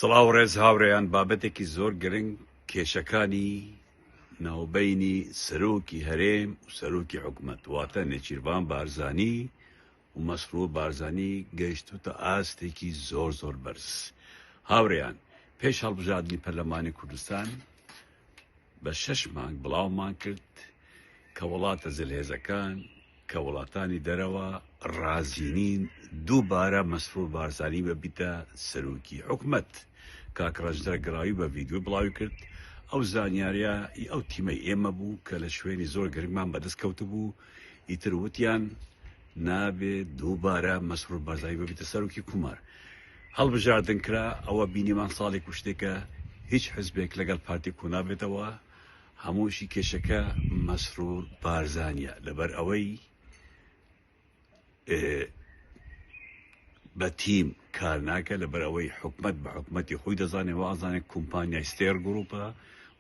سڵاو ڕێز هاورێیان بابەتێکی زۆر گرنگ کێشەکانی ناوبینی سەرۆکی هەرێم و سەرۆکی حکومەت واتە نێچیربان بارزانی و مەسرور بارزانی گەیشتوتە ئاستێکی زۆر زۆر بەرز هاورێیان پێش هەڵبژاردنی پەرلەمانی کوردستان بە شەش مانگ بڵاومان کرد کە وڵاتە زلهێزەکان کە وڵاتانی دەرەوە ڕازی نین دووبارە مەسرور بارزانی بەبیتە سەرۆکی حکومەت کاک ڕەنجدەر گراوی بە ڤیدیۆی بڵاوی کرد ئەو زانیاریە ئەو تیمەی ئێمە بوو کە لە شوێنی زۆر گرنگمان بەدەست کەوتبوو ئیتر وتیان نابێ دووبارە مەسرور بارزانی ببیتە سەرۆکی کومار هەڵبژاردن کرا ئەوە بینیمان ساڵێک و شتێکە هیچ حزبێک لەگەڵ پارتی کۆنابێتەوە هەمووشی کێشەکە مەسرور بارزانە لەبەر ئەوەی بە تیم کار ناکە لە بەرەوەی حکومت بە حکومەتی خۆی دەزانێ وازانێت کۆمپانیای ستێر گروپە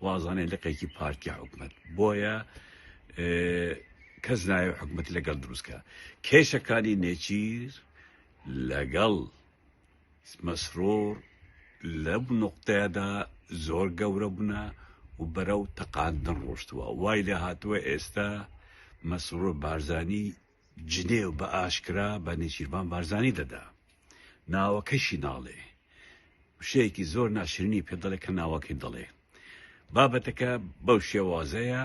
وازانێت لقێکی پارتی حکومت بۆیە کەس نایەو حکومەتی لەگەڵ دروست کا کێشەکانی نێچیر لەگەڵ مسرور لەم نوقتەیەدا زۆر گەورە بوونە و بەرەو تەقاندن ڕۆشتووە وای لێ هاتووە ئێستا مسرور بارزانی جنێو بە ئاشکرا بە نێچیربان بارزانی دەدا ناوەکەشی ناڵێ شەیەکی زۆر ناشرنی پێ دەڵێ کە ناوەکەی دەڵێ بابەتەکە بەو شێوازەیە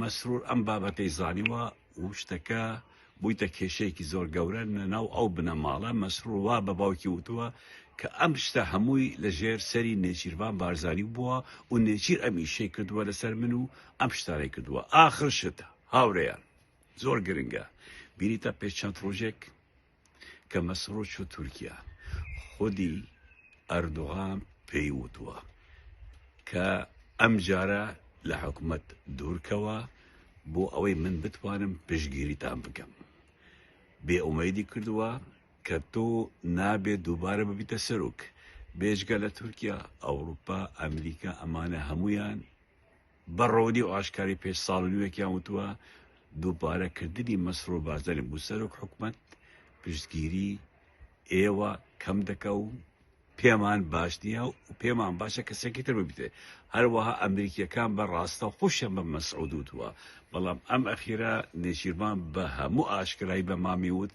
مەسرور ئەم بابەتەی زانیوە و شتەکە بوویتە کێشەیەکی زۆر گەورە لە ناو ئەو بنەماڵە، مەسرور وا بە باوکی وتووە کە ئەم شتە هەمووی لە ژێر سەری نێچیرڤان بارزانی بووە و نێچیر ئەم ئیشەی کردووە لەسەر من و ئەم شتانەی کردووە، ئاخر شت هاورێیان زۆر گرنگە، بینیتە پێش چەند ڕۆژێک، کە مەسرۆچ و تورکیا خودی ئەردوغان پێی وتوە کە ئەم جارە لە حکومەت دوورکەوە بۆ ئەوەی من بتوانم پشگیریتان بکەم بێ ئومەیدی کردووە کە تۆ نابێت دووبارە ببیتە سەرک بێژگە لە تورکیا ئەوروپا ئەمریکا ئەمانە هەمویان بە ڕوونی و ئاشکاری پێش ساڵ و نیوێکیان وتووە، دووبارەکردنی مەسرور بارزانی بۆ سەرۆک حکومەت، پشتگیری ئێوە کەم دەکا و پێمان باش نییە و پێمان باشە کەسێکی تر ببیتێ. هەروەها ئەمریکییەکان بە ڕاستەوخۆشیان بە مەسعود وتووە، بەڵام ئەم ئەخیرە نێچیرڤان بە هەموو ئاشکرایی بە مامی وت،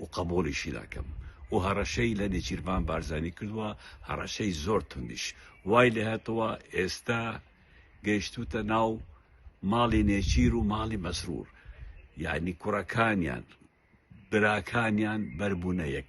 و قەبوڵیشی ناکەم و هەڕەشەی لە نێچیرڤان بارزانی کردوە هەڕەشەی زۆر توندیش وای لێهاتوە ئێستا گەیشتوتە ناو ماڵی نێچیر و ماڵی مەسرور یانی کوڕەکانیان براکانیان بەربونە یەک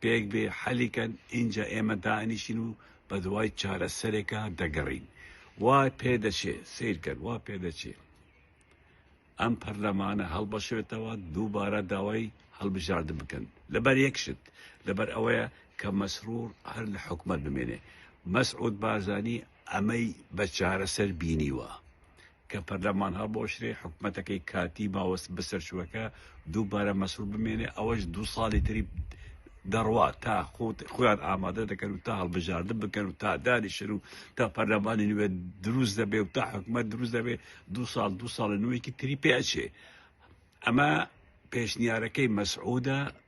پێک بێ حەلی کەن ئینجا ئێمە دائەنیشین و بەدوای چارەسەرێکا دەگەڕین وا پێدەچێ سەیرکەن وا پێدەچێ ئەم پەرلەمانە هەڵبەشێتەوە دووبارە داوای هەڵبژاردن بکەن لەبەر یەکشت لەبەر ئەوەیە کە مەسرور هەر لە حکومەت بمێنێ مەسعود بارزانی ئەمەی بە چارەسەر بینیوە کە پەرلەمان هەڵبوەشرێ، حکومەتەکەی کاتی ماوە بە سەرچوەکە دووبارە مەسروور بمێنێ، ئەوەش دوو ساڵی تری دەڕوا تا خۆیان ئامادە دەکەن و تا هەڵبژاردن بکەن و تا دانیشن و تا پەرلەمانی نوێ دروست دەبێ و تا حکومەت دروست دەبێ دو ساڵ دو ساڵە نوێکی تری پێچێ ئەمە پێشنیارەکەی مەسعودە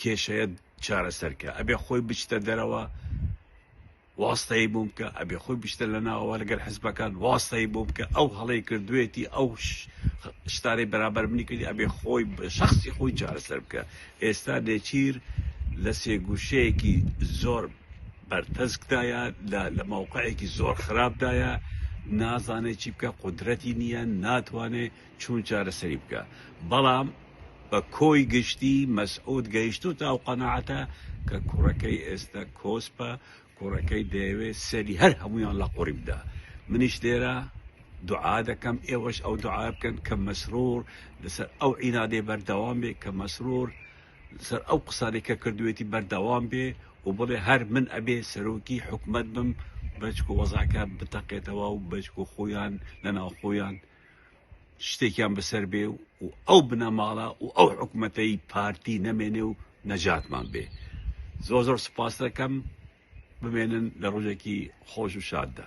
کێشەیە چارەسەر کە ئەبێ خۆی بچتە دەرەوە واستەی بووم کە ئەبێ خۆی بچتە لە ناوەوە لەگەر حزبەکان واستەی بووم کە ئەو هەڵی کردوێتی ئەو شتارەی بەرابەر منی کردی ئەبێ خۆی شخصی خۆی چارەسەر بکە ئێستا لێچیر لە سێگوشەیەکی زۆر بەرتەسکدایە لە ماوقعێکی زۆر خراپدایە نازانێت چی بکە قدرەتی نییە ناتوانێت چون چارەسەری بکە بەڵام بە کۆی گشتی مەسعود گەیشتۆتە ئەو قەناعەتە کە کوڕەکەی ئێستە کۆسپە کوڕەکەی دەیەوێ سەری هەر هەموویان لە قوڕی بدا منیش لێرە دوعا دەکەم ئێوەش ئەو دوعا بکەن کە مەسرور لەسەر ئەو عینادەی بەردەوام بێ کە مەسرور لەسەر ئەو قسانەی کە کردوێتی بەردەوام بێ و بڵێ هەر من ئەبێ سەرۆکی حکومت بم بەچکو وەزعەکە بتەقێتەوە و بەچکو خۆیان لە ناوخۆیان شتێکیان بەسەر بێ و ئەو بنەماڵە و ئەو حکوومەتەی پارتی نەمێنێ و نەجاتمان بێ زۆر زۆر سپاس دەکەم بمێنن لە ڕۆژێکی خۆش و شاددا.